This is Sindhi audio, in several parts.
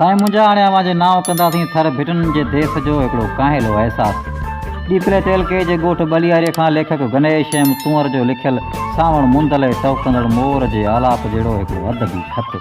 سائين منهنجا هاڻي اوهان جي نانء ڪنداسين ٿر ڀٽن جي ديس جو هڪڙو ڪاهيلو احساس ڏيپلي تعلقي جي ڳوٺ ٻلياري کان ليکڪ گنيش ايم ڪنور جو لکيل سانوڻ مندل ۽ ٽهڪندڙ مور جي آلاپ جهڙو هڪڙو ادبي خط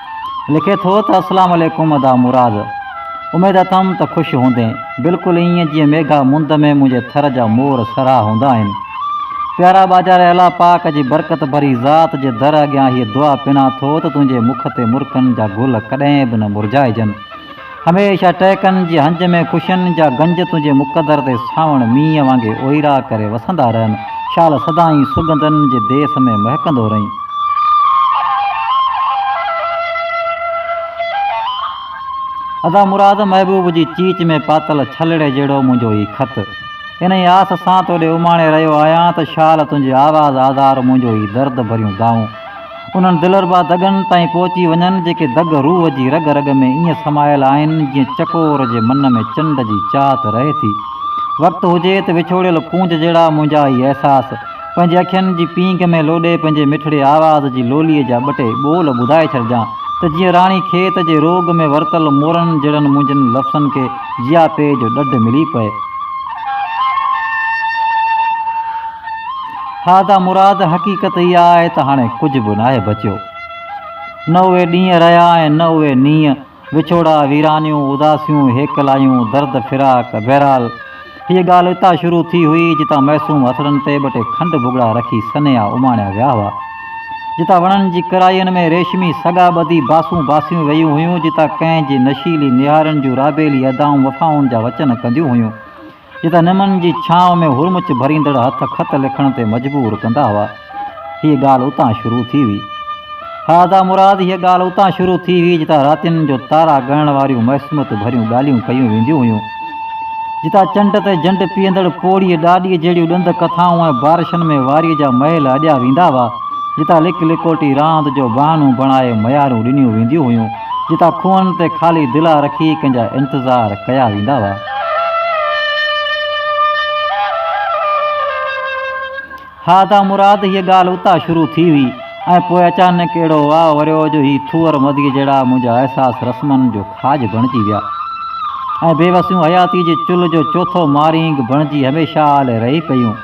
لکي ٿو ته اسلام عليڪم ادا مراد اميد اٿم ته خوش هوندين بلڪل ائين جيئن ميگها مند ۾ منهنجي ٿر جا مور سرها هوندا آهن پيارا ٻاجهاري الله پاڪ جي برڪت ڀري ذات جي در اڳيان هيء دعا پنان ٿو ته تنهنجي مک تي مرڪن جا گل ڪڏهن به نه مرجهائجن هميشه ٽهڪن جي هنج ۾ خوشين جا گنج تنهنجي مقدر تي ساوڻ مينهن وانگي اوئيرا ڪري وسندا رهن شال سدائين سڳنڌن جي ديس ۾ مهڪندو رهين. ادا مراد محبوب جي چيچ ۾ پاتل ڇلڙي جهڙو منهنجو هي خط. انهي آس سان تو ڏي اماڻي رهيو آهيان ته شال تنهنجي آواز آڌار منهنجو هي درد ڀريون دانهون. انهن دلربا دڳن تائين پهچي وڃن، جيڪي دڳ روح جي رڳ رڳ ۾ ائين سمايل آهن، جيئن چڪور جي من ۾ چنڊ جي چاهت رهي ٿي. وقت هجي ته وڇوڙيل ڪونج جهڙا منهنجا هي احساس، پنهنجي اکين جي پينگهه ۾ لوڏي پنهنجي مٺڙي آواز جي لوليء جا ٻه ٽي ٻول ٻڌائي ڇڏجان ته جيئن راڻي کيت جي روڳ ۾ ورتل مورن جهڙن منهنجن لفظن کي جياپي جو ڏڍ ملي پئي. ٿا ته مراد حقيقت اها آهي ته هاڻي ڪجهه به ناهي بچيو. نه اهي ڏينهن رهيا ۽ نه اهي نينهن، وڇوڙا، ويرانيون، اداسيون، هيڪلايون، درد فراق، بهرحال هيء ڳالهه اتان شروع ٿي هئي جتان معصوم هٿڙن تي ٻه ٽي کنڊ ڀڳڙا رکي سنيها اماڻيا ويا هئا، جتان وڻن جي ڪرائين ۾ ريشمي سڳا ٻڌي باسون باسيون وييون هيون، جتان ڪنهن جي نشيلي نهارين جون رابيلي ادائون وفائن جا وچن ڪنديون هيون. جتان نمن جي ڇانو ۾ هرمچ ڀريندڙ هٿ خط لکڻ تي مجبور ڪندا هئا. هيء ڳالهه اتان شروع ٿي هئي. ها ادا مراد، هيء ڳالهه اتان شروع ٿي هئي، جتان راتين جو تارا ڳڻڻ واريون معصوميت ڀريون ڳالهيون ڪيون وينديون هيون. جتان چنڊ تي جنڊ پيئندڙ پوڙهيء ڏاڏيء جهڙيون ڏند ڪٿائون ۽ بارشن ۾ واريء جا محل اڏيا ويندا هئا. جتان لڪ لڪوٽي راند جو بهانو بڻائي ميارون ڏنيون وينديون هيون. جتان کوهن تي خالي دلا رکي ڪنهن جا انتظار ڪيا ويندا هئا. ها تان مراد هيء ڳالهه اتان شروع ٿي هئي ۽ پوء اچانڪ اهڙو واء وريو جو هي ٿوهر مڌيء جهڙا منهنجا احساس رسمن جو کاڄ بڻجي ويا ۽ بيوسيون حياتيء جي چلهه جو چوٿو مارينگ بڻجي هميشه لاء رهي پيون.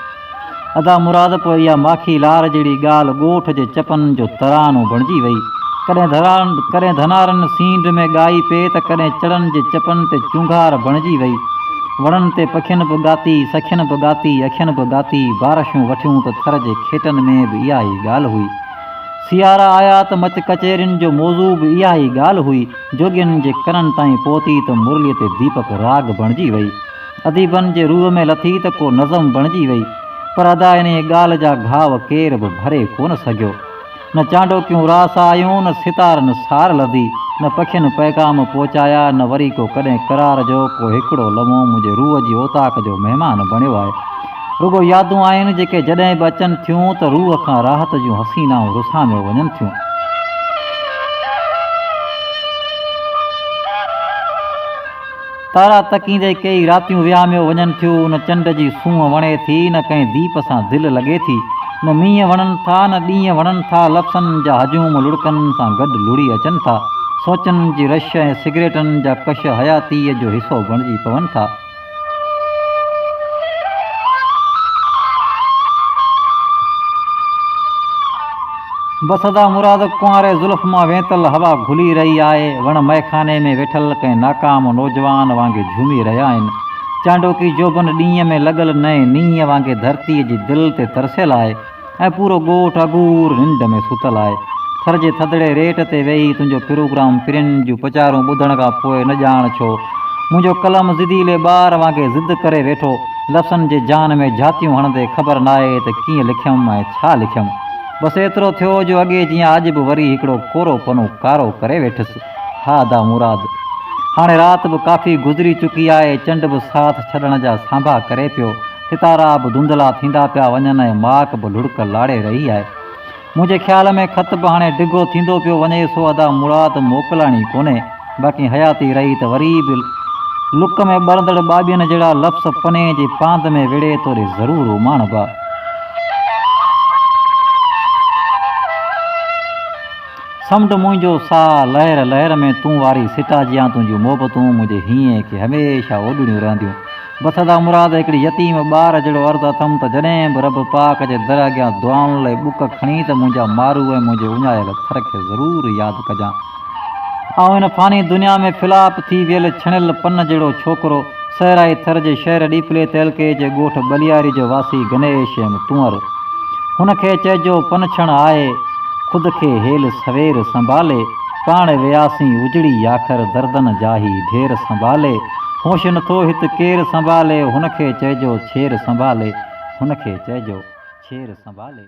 ادا مراد پوء اها ماکي لار جهڙي ڳالهه ڳوٺ جي چپن جو ترانو بڻجي وئي. ڪڏهن ڌران ڪڏهن ڌنارن سينڍ ۾ ڳائي پئي ته ڪڏهن چڙن جي چپن تي چونگهار بڻجي وئي. وڻن تي پکين به ڳاتي، سکين به ڳاتي، اکين به ڳاتي، بارشون وٺيون ته ٿر جي کيٽن ۾ به اها ئي ڳالهه هئي. سيارا آيا ته مچ ڪچهرين جو موضوع به اها ئي ڳالهه هئي. جوڳين جي ڪنن تائين پهتي ته مرليء تي ديپڪ راڳ بڻجي وئي. اديبن جي روح ۾ لٿي ته ڪو نظم بڻجي وئي، پر ادا انهيء ڳالهه جا گهاء ڪير به ڀري ڪونه سگهيو. نه چانڊوڪيون راس آيون، نه ستارن سار لڌي، نه پکين پيغام پهچايا، نه وري ڪو ڪڏهن قرار جو ڪو هڪڙو لمحو منهنجي روح جي اوطاق جو مهمان بڻيو آهي. رڳو يادون آهن، جيڪي جڏهن به اچن ٿيون ته روح کان راحت جون حسينائون رساميو وڃن ٿيون. تارا تڪيندي ڪيئي راتيون وهاميو وڃن ٿيو نه چنڊ جي سونهن وڻي ٿي نه ڪنهن ديپ سان دل لڳي ٿي نه مينهن وڻن ٿا نه ڏينهن وڻن ٿا لفسن جا هجوم لڙڪن سان گڏ لڙي اچن ٿا سوچن جي رش ۽ سگريٽن جا ڪش حياتيء جو حصو بڻجي پون ٿا. بس ادا مراد ڪنواري زلف مان وينتل هوا گهلي رهي آهي، وڻ مئخاني ۾ ويٺل ڪنهن ناڪام نوجوان وانگي جهومي رهيا آهن. چانڊوڪي جوڀن ڏينهن ۾ لڳل نئين نينهن وانگي ڌرتيء جي دل تي ترسيل آهي ۽ پورو ڳوٺ اگهور ننڊ ۾ ستل آهي. ٿر جي ٿڌڙي ريٽ تي ويهي تنهنجو پروگرام پرين جون پچارون ٻڌڻ کان پوء نه ڄاڻ ڇو منهنجو قلم ضديلي ٻار وانگي ضد ڪري ويٺو، لفظن جي جان ۾ جهاتيون هڻندي خبر ناهي ته ڪيئن لکيم ۽ ڇا لکيم. بس ايترو ٿيو جو اڳي جيان اڄ به وري هڪڙو ڪورو پنو ڪارو ڪري ويٺس. ها ادا مراد! هاڻي رات به ڪافي گذري چڪي آهي، چنڊ به ساٿ ڇڏڻ جا سانڀا ڪري پيو، ستارا به ڌنڌلا ٿيندا پيا وڃن ۽ ماڪ به لڙڪ لاڙي رهي آهي. منهنجي خيال ۾ خط به هاڻي ڊگهو ٿيندو پيو وڃي، سو ادا مراد موڪلڻي ڪونهي. باقي حياتي رهي ته وري به لڪ ۾ ٻرندڙ ٻاٻين جهڙا لفظ پني جي پاند ۾ وڙهي توڙي ضرور اماڻبا. سمنڊ منهنجو ساهه لهر لهر ۾ تون واري سٽا جيان تنهنجون محبتون منهنجي هينئين کي هميشه اوڏڙيون رهنديون. بس ادا مراد هڪڙي يتيم ٻار جهڙو عرض اٿم ته جڏهن به رب پاڪ جي در اڳيان دعائن لئي ٻڪ کڻين ته منهنجا مارو ۽ منهنجي اڃايل ٿر کي ضرور ياد ڪجان. آئون هن فاني دنيا ۾ ڦلاپ ٿي ويل ڇڻيل پن جهڙو ڇوڪرو، صحرائي ٿر جي شهر ڏيپلي تعلقي جي ڳوٺ ٻلياري جو واسي غني ايشيم تونئر. هن کي چئجو پنڇڻ آهي. خود کي هيل سوير سنڀالي، پاڻ وياسين اجڙي ياخر دردن جا هي ڍير سنڀالي، هوش نٿو هت ڪير سنڀالي، هن کي چئجو ڇير سنڀالي، هن کي چئجو ڇير سنڀالي.